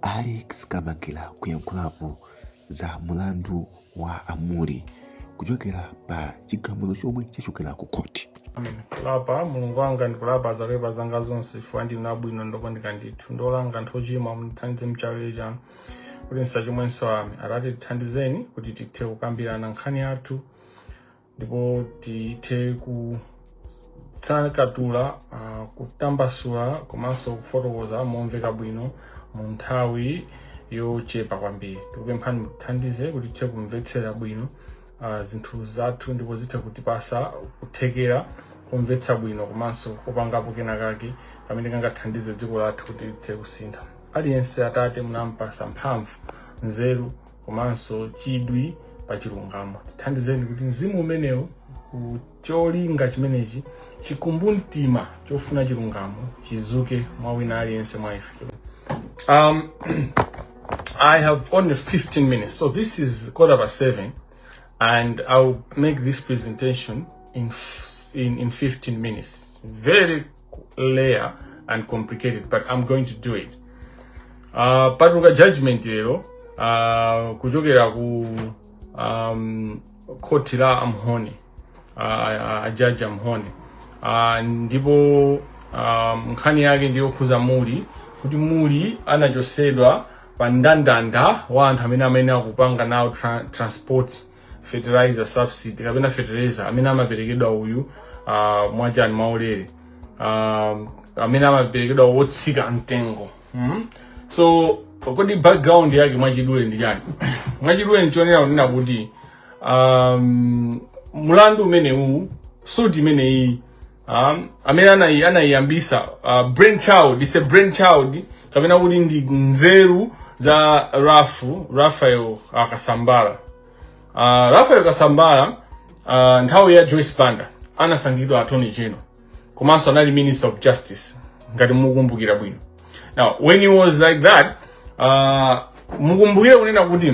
Alex Kamangila kuyankhulapo za mulandu wa a Mulli kuchokera pa chigamulo chomwe chachokera ku khoti. kulapa mulungu wanga ndikulapa zoipa zanga zonse chifukwa ndinu abwino ndokondeka ndithu ndolanga anthu ochimwa mundithandize nchaulere chanu kuti ndisachimwenso amen atate tithandizeni kuti tithe kukambirana nkhani yathu ndipo tithe kutsakatula uh, kutambasula komanso kufotokoza momveka bwino mu nthawi yochepa kwambiri tikupemphani mutithandize kuti tithe kumvetsera bwino uh, zinthu zathu ndipo zithe kutipasa kuthekera komvetsa bwino komanso kopangapo kenakake kamene kangathandize dziko lathu kuti lithe kusintha aliyense atate munampasa mphamvu nzeru komanso chidwi pa chilungamo tithandizeni kuti mzimu umenewu cholinga chimenechi chikumbumtima chofuna chilungamo chizuke mwa wina aliyense mwa ife um, i have only 15 minutes so this is quarter past 7 and i'll make this presentation in, f- in, in 15 minutes very layered and complicated but i'm going to do it uh, patuluka judgment lero uh, kuchokera ku um, khoti la amhone uh, ajaji amhone uh, ndipo um, nkhani yake ndiyokhuza mulli kuti mulli anachosedwa pa ndandanda wa anthu amene amene akupanga nawo tra transport fertilizer subsidy kapena fertilizer amene amaperekedwa uyu uh, mwachani mwaulere um, amene amaperekedwa wotsika mtengo mm? so kodi background yake mwachidule ndi chani mwachidule ndichonera kunena kuti um, mulandu umenewu suti imeneyi um, amene anayi anayiyambisa uh, brain child it's a brain child kapena kuti ndi nzeru za ralph raphael uh, kasambara uh, raphael kasambara uh, nthawi ya joyce banda anasankhidwa attorney general komanso anali minister of justice ngati mukumbukira bwino now when he was like that uh, mukumbukire kunena kuti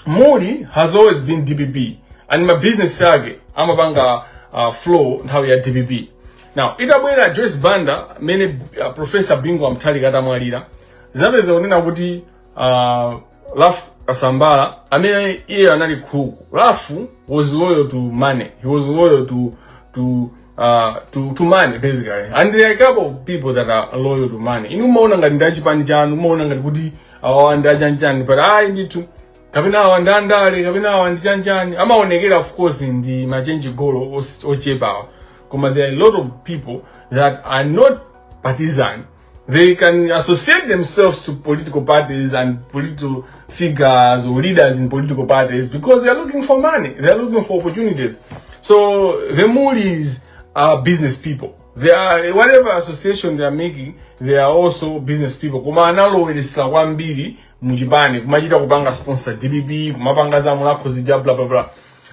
Mulli has always been DPP and ma business ake amapanga uh, flow nthawi ya DPP. Now itabwera Joyce Banda mene uh, Professor Bingu wa Mutharika atamwalira zinapeza kunena kuti uh, Ralph Kasambara amene iye anali crook. Ralph was loyal to money. He was loyal to to uh, to, to money basically and there are a couple of people that are loyal to money inu umaona ngati ndi achipani chanu umaona ngati kuti awa ndi achanchani bwa ayi ndithu kapena awa ndi andale kapena awa ndi chanchani amaonekera of course ndi ma change goal os- ochepawa koma there are a lot of people that are not partisan they can associate themselves to political parties and political figures or leaders in political parties because they are looking for money they are looking for opportunities so the mulis are business people They are, whatever association they are making, they are also business people. Koma analowelesa kwambiri mujibani, kumachita kupanga sponsor DBB, kumapanga za mulako zija bla bla bla.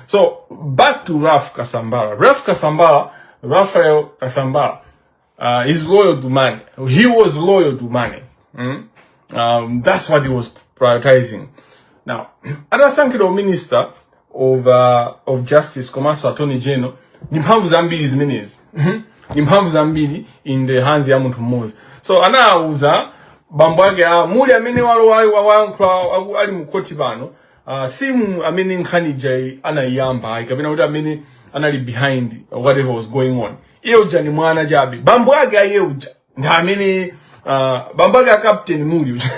So, back to Raf Kasambara. Raf Kasambara, Rafael Kasambara, uh, is loyal to money. He was loyal to money. Mm? Um, that's what he was prioritizing. Now, atasankhidwa minister of, uh, of justice komanso attorney general ni mphamvu zambiri zimenezi mm-hmm. ni mphamvu zambiri in the hands ya munthu mmodzi so anawuza bambo ake a muli amene walowayo wayankhula ali mu khoti pano uh, si amene nkhani ija anayiyamba ayi kapena kuti amene anali behind whatever was going on uja uja ndi mwana chabe bambo ake a uja uja ndi amene uh, bambo ake a captain muli uja.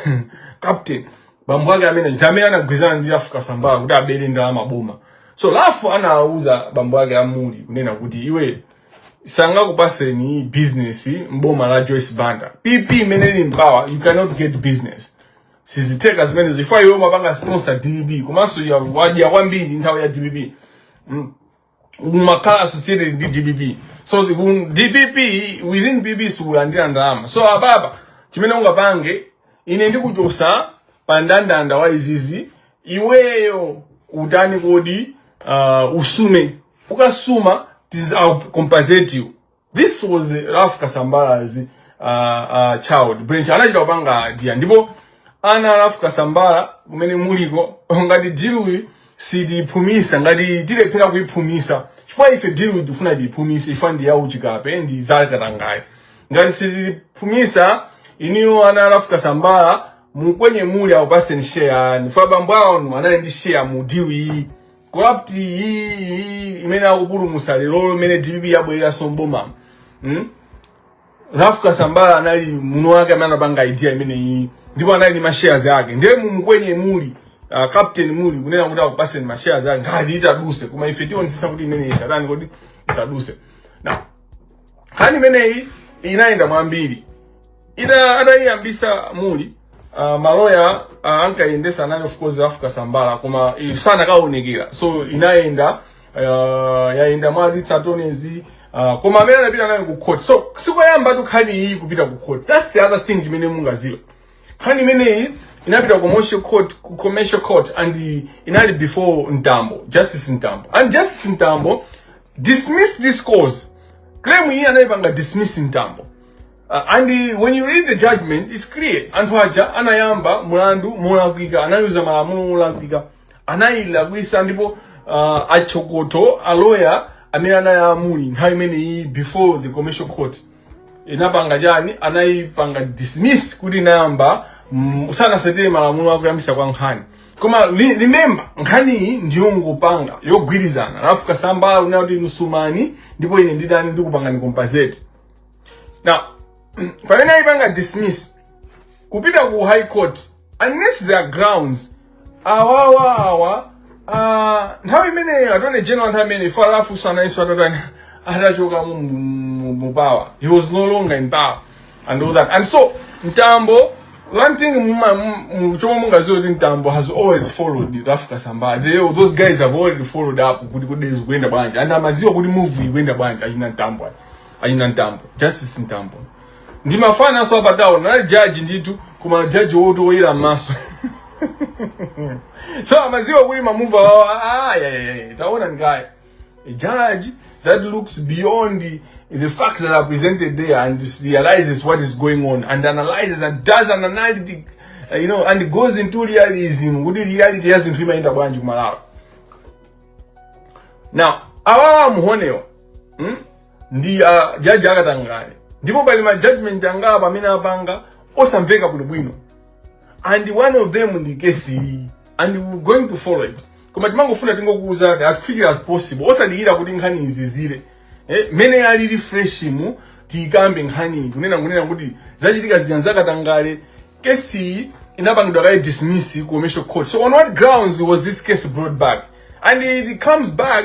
captain bambo ake amene ndi amene anagwirizana ndi ralph kasambara kuti abere ndalama za boma so ralph anawuza bambo ake a muli kunena kuti iwe sangakupaseni business mboma la joyce banda pp imene ili m'bomayi you cannot get business sizitheka zimenezo chifukwa iwe umapanga sponsor dpp komanso ya- wadya kwambiri nthawi ya dpp umakhala associated ndi dpp so the- ku- dpp within pp sukulandira ndalama so apapa chimene ungapange ine ndikuchosa pa ndandanda wa izizi iweyo utani kodi uh, usume ukasuma tiz- I'll compensate you this was Ralph Kasambara's uh, uh, child brain anachita kupanga idea ndipo ana a Ralph Kasambara kumene muliko ngati deal iyi sitiyiphumitsa ngati tilephera kuyiphumitsa chifukwa ife deal iyi tifuna tiyiphumitse ife ndi yauchikape ndi yakatangale ngati sitiyiphumitsa inuyo ana a Ralph Kasambara mukwenye muli akupaseni share yanu chifukwa bambo anu anali ndi share mu deal iyi corrupt iyi imene akupulumutsa lero imene dpp yabwereranso mboma hmm? Ralph Kasambara anali mwini wake amene anapanga idea imeneyi ndipo anali ni ma shares yake ndiye mumukwenye muli uh, captain muli kunena kuti akupatseni ma shares yake ngati itadutse koma ife tionetsetsa kuti imene isatani kodi isadutse now nkhani imeneyi inayenda mwambiri ita atayiyambitsa muli uh, maloya uh, ankayendesa anali of course ralph kasambara koma i- sankaonekera so inayenda uh, yayenda mwa ritz attorneys uh, koma amene anapita nayo ku court so sikoyambatu nkhani iyi kupita ku court that's the other thing imene mungadziwe nkhani imeneyi inapita ku commercial court ku commercial court and inali before mtambo justice mtambo and justice mtambo dismiss this case claim iyi anayipanga dismiss mtambo Uh, and uh, when you read the judgment it's clear anthu aja anayamba mulandu molakwika anayuza malamulo molakwika anayilakwisa ndipo uh, achokocho aloya amene anayamba nthawi imeneyi before the commercial court inapanga chani anayipanga dismiss kuti inayamba mm, osatsata malamulo akuyambisa kwa nkhani koma remember nkhani iyi ndiyongopanga yogwirizana a Ralph Kasambara kunena kuti muzisuma ndipo ine ndidzani ndikupangani compensate now pamene ayipanga dismiss kupita ku high court unless there are grounds awawa awa ah, nthawi imeneyo attorney general nthawi imene Ralph sanaiso atatani atachoka mu- mu- mu power he was no longer in power and all that and so mtambo one thing muma- mu- mu- chomwe mungaziwe kuti mtambo has always followed Ralph Kasambara They- those guys have already followed up kuti kuti zikuenda bwanji and amaziwa kuti move ikuenda bwanji achina mtambo achina mtambo justice mtambo ndi mafana so apa town anali judge ndithu koma judge woti woyera m'maso so amaziwa kuti ma move awo ah, yeah, yeah, yeah. taona ndikaya a judge that looks beyond the, the facts that are presented there and realizes what is going on and analyzes and does an analytic uh, you know and goes into realism kuti reality ya zinthu imayenda bwanji kumalawi now awawa Muhomewo hmm? ndi a jaji akatangale ndipo pali ma judgment angapo amene apanga osamveka bwinobwino and one of them ndi kesi iyi and we going to follow it koma timangofuna tingokuwuzani as quickly as possible osadikira kuti nkhani izizire eh, mene ili fresh mu tiyikambe nkhani kunena kunena kuti zachitika zija zakatangale kesi iyi inapangidwa kaye dismiss ku commercial court so on what grounds was this case brought back and it comes back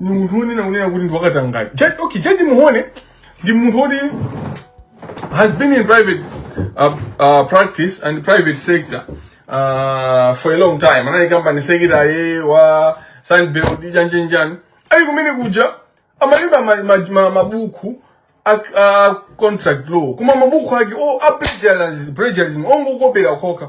munthu wonena kunena kuti ndi wakatangale Judge- okay jaji Muhome ndi munthu woti has been in private uh, uh, practice and private sector uh, for a long time anali company secretary wa Sunbird chanichani ali kumene kuja amalemba ma- ma- ma- mabuku a a contract law koma mabuku ake o a plagiarism plagiarism ongokopera okha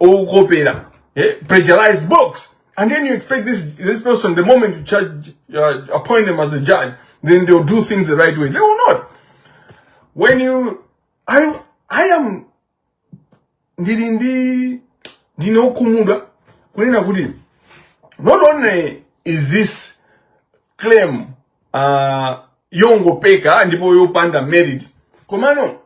okopera eh, plagiarized books and then you expect this this person the moment you charge uh, appoint them as a judge then they'll do things the right way they will not when you i i am ndili ndi ndine okhumudwa kunena kuti not only is this claim uh, yongopeka ndipo yopanda merit komano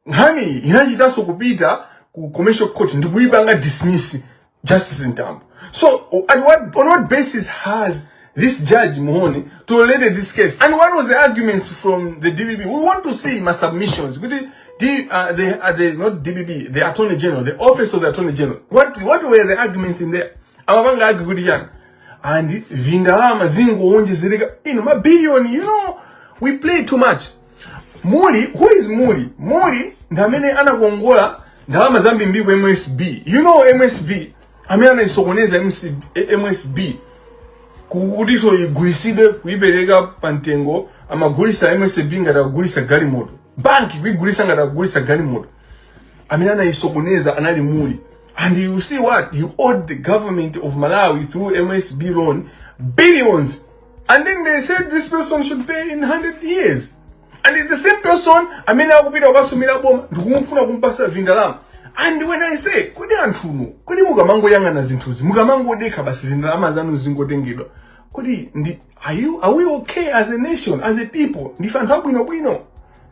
nkhaniyi inachitanso kupita ku commercial court ndikuyipanga dismiss justice ntambo so at what, on what basis has this judge muhone tolerated this case and what was the arguments from the dpp we want to see my submissions kuti D, uh, the, uh, the, not dpp the attorney general the office of the attorney general what, what were the arguments in there amapanga agi kuti chani and vindalama zingowonjezereka ino mabiliyoni you know we play too much Muli, who is Muli? Muli ndi amene anakongola ndalama zambiri ku MSB. You know MSB amene anaisokoneza MC eh, MSB kutiso igulisidwe kuipereka pa mtengo amagulisa MSB ngati akugulisa galimoto. Banki kuigulisa ngati akugulisa galimoto. Amene anaisokoneza anali Muli. And you see what? You owed the government of Malawi through MSB loan billions and then they said this person should pay in 100 years and it's the same person amene akupita kukasumiranso boma ndikufuna kumpasa vindalama and when i say kodi anthuno kodi mukamangoyang'ana zinthuzi mukamangodekha basi zindalama zanu zingotengedwa kodi ndi are, you, are we okay as a nation as a people ndife anthu abwinobwino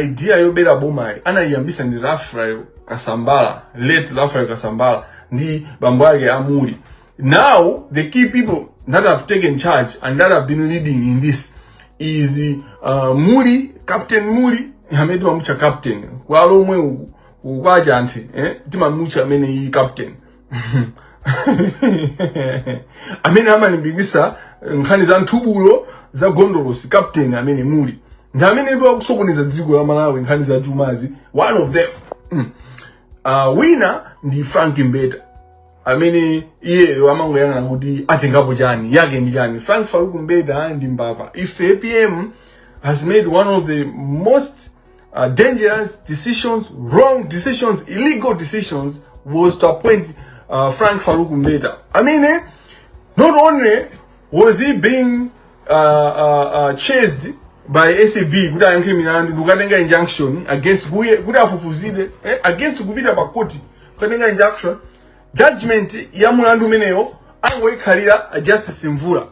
idea yobera bomayi anayiyambisa ndi Raphael Kasambara, late Raphael Kasambara ndi mnzake a Muli. Now the key people that have taken charge and that have been leading in this is uh, Muli, Captain Muli, amene timamucha captain kwa Lomwe uku kwa Chanthu eh timamucha amene iyi captain amene amalimbikisa nkhani za nthubulo za gondolosi captain amene muli ndi amene ipo akusokoneza dziko la malawi nkhani za chumazi one of them mm. uh, wina ndi frank mbeta amene iyeyo amangoyang'ana kuti atengapo chani yake ndi chani frank faruku mbeta ndi mbava ife apm has made one of the most uh, dangerous decisions, wrong decisions, illegal decisions was to appoint uh, Frank Farouk Mbeta. I mean, eh, not only was he being uh, uh, uh, chased by ACB kuti ayankhe milandu ndikukatenga injunction against iye kuti afufuzidwe eh, against kupita pa court kukatenga injunction judgment ya mulandu umeneyo angoikhalira a justice mvula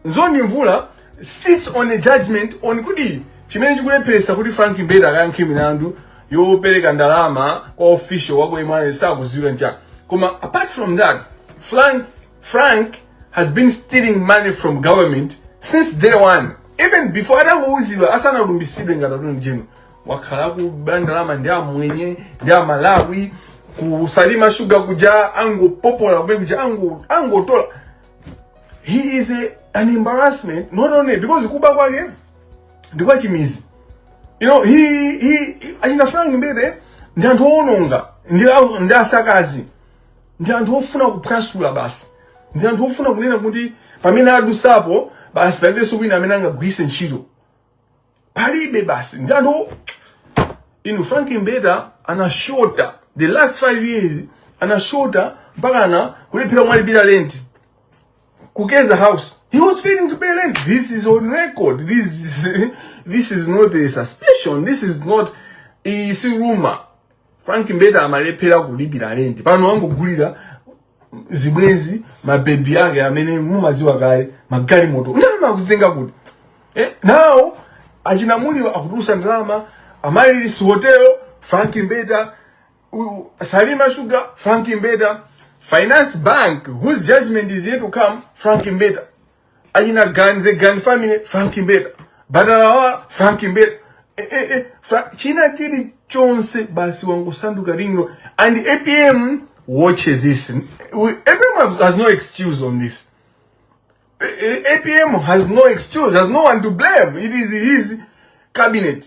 Nzondi Mvula sits on a judgment on kuti chimene chikulepheresa kuti Frank Mbeta akayankhe milandu yopereka ndalama kwa official wako imene sakuziwira nchaka. Koma apart from that, Frank, Frank has been stealing money from government since day one. Even before atangouzidwa asanalumbisidwe ngati Attorney General wakhala akuba ndalama ndi amwenye ndi amalawi ku Salima Sugar kuja angopopola kumene kuja ango- angotola he is a, an embarrassment not only because kuba kwake ndi kwa chimizi you know he he he- achina frank mbeta ndi anthu owononga ndi a- ndi asakazi ndi anthu ofuna kuphwasula basi ndi anthu ofuna kunena kuti pamene adusapo basi palibenso wina amene angagwiritse ntchito palibe basi ndi anthu inu frank mbeta anashota the last five years anashota mpaka ana kulephera kulipira lenti kukeza house he was failing to pay rent this is on record this is, this is not a suspicion this is not si rumor frank mbeta amalephera kulipira lenti pano wangogulira zibwenzi mabebi ake amene mumawaziwa kale magalimoto ndalama akuzitenga kuti eh, nawo a chinamulira akutulusa ndalama amalilisi hotelo franki mbeta u- salima sugar franki mbeta finance bank whose judgment is yet to come franki mbeta achina gani the gani family frank mbeta batalawa frank mbeta eh, eh, eh, Fra china chili chonse basi wangosanduka ringro and apm watches this We- apm has, has no excuse on this A- A- apm has no excuse has no one to blame it is his cabinet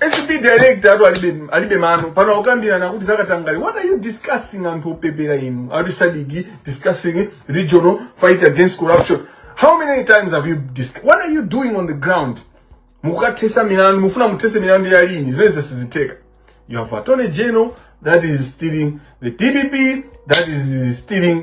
acb director ati alibe mano pano akukambirana kuti zakatangale what are you discussing anthu opepera inu ati sadiki discussing regional fight against corruption how many times have you discussed what are you doing on the ground mukathesa milandu mufuna muthese milandu ya lini zimenezo sizitheka you have attorney general that is stealing the dpp that is stealing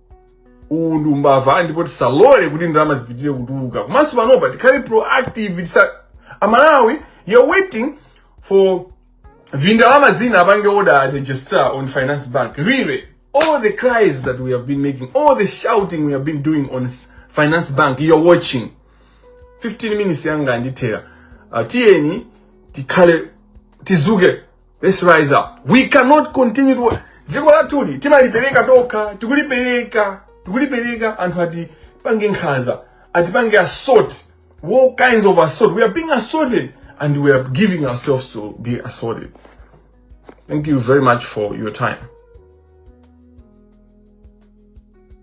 uwu ndi umbava ndipo tisalole kuti ndalama zipitirire kutuluka komanso panopa tikhale proactive tisa amalawi you're waiting for vindalama wina apange order registrar on finance bank really all the cries that we have been making all the shouting we have been doing on s- finance bank you're watching 15 minutes yanga ndithera uh, tiyeni tikhale tizuke Let's rise up. We cannot continue to dziko lathuli timalipereka tokha tikulipereka tikulipereka anthu ati pange nkhaza ati pange assault all kinds of assault we are being assaulted and we are giving ourselves to be assaulted thank you very much for your time